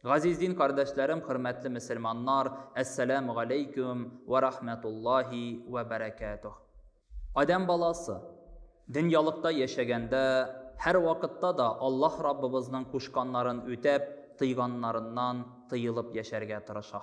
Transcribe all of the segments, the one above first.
Газиз дин кардәшләрем, хөрмәтле мөселманнар, әссәләмү галәйкүм вә рахмәтуллаһи вә бәрәкәтүһ. Адәм баласы, дөньялыкта яшәгәндә, һәрвакытта да Аллаһ Раббыбызның кушканнарын үтәп, тыйганнарыннан тыелып яшәргә тырыша.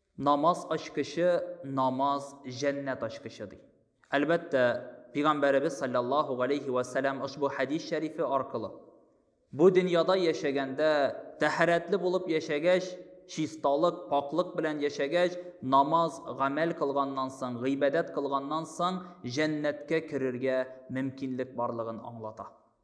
Намаз ачкычы, намаз җәннәт ачкычы, ди. Әлбәттә, Пигамбәребез салләллаһу галәйһи вә сәләм ошбу хәдис шәрифе аркылы, бу дөньяда яшәгәндә, тәһарәтле булып яшәгәч, чисталык, пакълык белән яшәгәч, намаз, гамәл кылганнан соң, гыйбадәт кылганнан соң, җәннәткә керергә мөмкинлек барлыгын аңлата.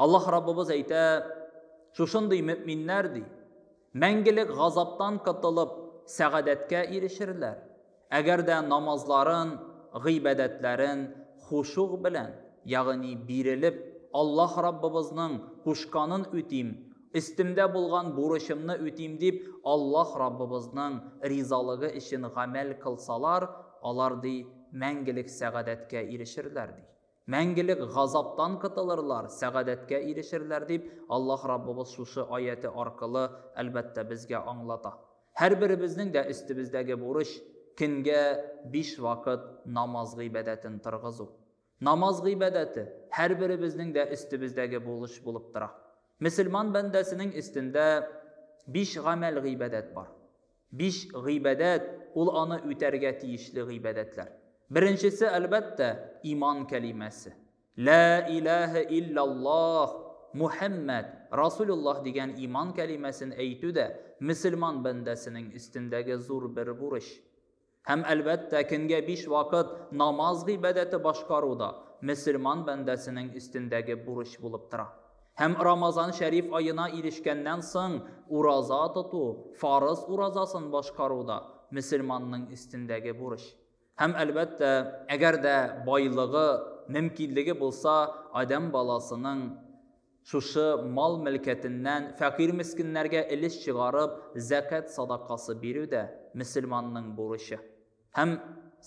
Аллаһ Раббыбыз әйтә, Шушындый мөэминнәр, ди, мәңгелек газаптан котылып, сәгадәткә ирешерләр, әгәр дә намазларын, гыйбадәтләрен хушуг белән, ягъни бирелеп, Аллаһ Раббыбызның кушканын үтим, өстемдә булган бурычымны үтим дип, Аллаһ Раббыбызның ризалыгы өчен гамәл кылсалар, алар, ди, мәңгелек сәгадәткә ирешерләр, ди. Мәңгелек газаптан котылырлар, сәгадәткә ирешерләр, дип Аллаһ Раббыбыз шушы аяте аркылы, әлбәттә, безгә аңлата. Һәрберебезнең дә өстебездәге бурыч, көнгә биш вакыт намаз гыйбадәтен торгызу. Намаз гыйбадәте, һәрберебезнең дә өстебездәге булыч булып тора. Мөселман бәндәсенең өстендә биш гамәл-гыйбадәт бар. Биш гыйбадәт, ул аны үтәргә тиешле гыйбадәтләр. Беренчесе, әлбәттә, иман кәлимәсе. Лә иләһә илляллаһ, Мухәммәд, Расулуллаһ дигән иман кәлимәсен әйтү дә мөселман бәндәсенең өстендәге зур бер бурыч. Һәм, әлбәттә, көнгә биш вакыт намаз гыйбадәте башкару да мөселман бәндәсенең өстендәге бурыч булып тора. Һәм Рамазан шәриф аена ирешкәннән соң ураза тоту, фарыз уразасын башкару да мөселманның өстендәге бурыч. Һәм, әлбәттә, әгәр дә байлыгы, мөмкинлеге булса, адәм баласының Шушы мал-мөлкәтеннән фәкыйрь-мескеннәргә өлеш чыгарып, зәкят садакасы бирү дә, мөселманның бурычы. Һәм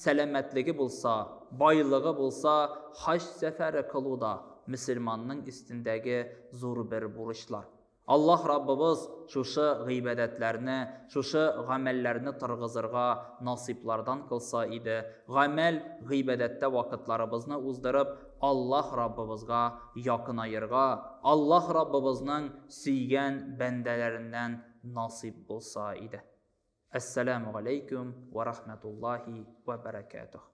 сәламәтлеге булса, байлыгы булса, хаҗ сәфәре кылу да, мөселманның өстендәге зур бер бурычлар. Аллаһ Раббыбыз шушы гыйбадәтләрне, шушы гамәлләрне торгызырга насыйплардан кылса иде, гамәл, гыйбадәттә вакытларыбызны уздырып, Аллаһ Раббыбызга якынаерга Аллаһ Раббыбызның сөйгән бәндәләреннән насыйп булса иде. Әссәләмү галәйкүм вә рахмәтуллаһи вә бәрәкәтүһ.